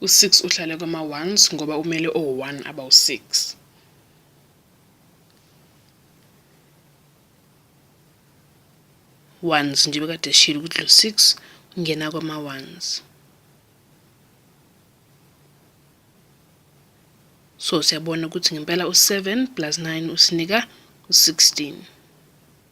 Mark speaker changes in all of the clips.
Speaker 1: U-six uhlale kwama-ones ngoba umele o-one abawu-six. Ones nje bekade eshilo ukuthi lo six ungena kwama-ones. So siyabona ukuthi ngempela u-seven plus nine usinika u-sixteen.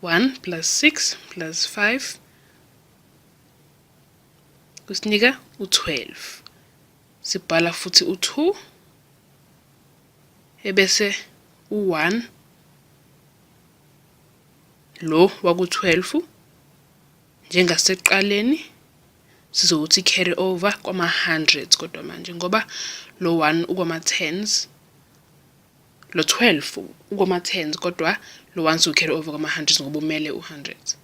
Speaker 1: One plus six plus five kusinika u-twelve. Sibhala futhi u-two ebese u-one lo waku-twelve njengasekuqaleni sizowuthi carry over kwama-hundreds kodwa manje ngoba lo 1 ukwama-tens lo 12 ukwama-tens kodwa lo 1 siwu-carry over kwama-hundreds ngoba umele u-hundreds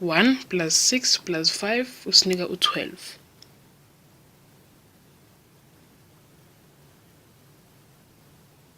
Speaker 1: one plus six plus five usinika u-twelve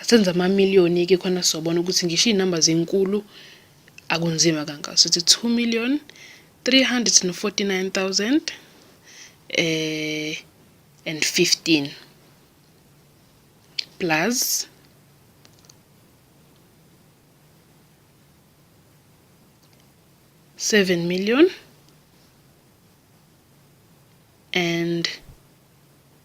Speaker 1: Asenza amamiliyoni-ke khona sobona ukuthi ngisho iy'namba zinkulu akunzima kangaka sithi 2 million 349,000 eh and 15 plus seven million and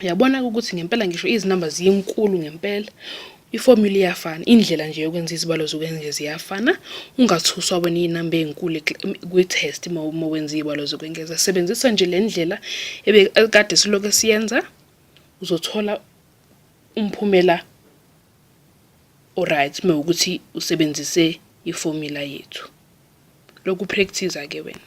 Speaker 1: uyabona ke ukuthi ngempela ngisho izinamba ziyinkulu ngempela iformula iyafana indlela nje yokwenza izibalo zokwenge ziyafana ungathuswa wena iy'namba ey'nkulu kwi-test uma wenza iy'balo zokwengeza sebenzisa nje le ndlela ebekade siloke siyenza uzothola umphumela oright uma ukuthi usebenzise iformula yethu lokhu practice-a ke wena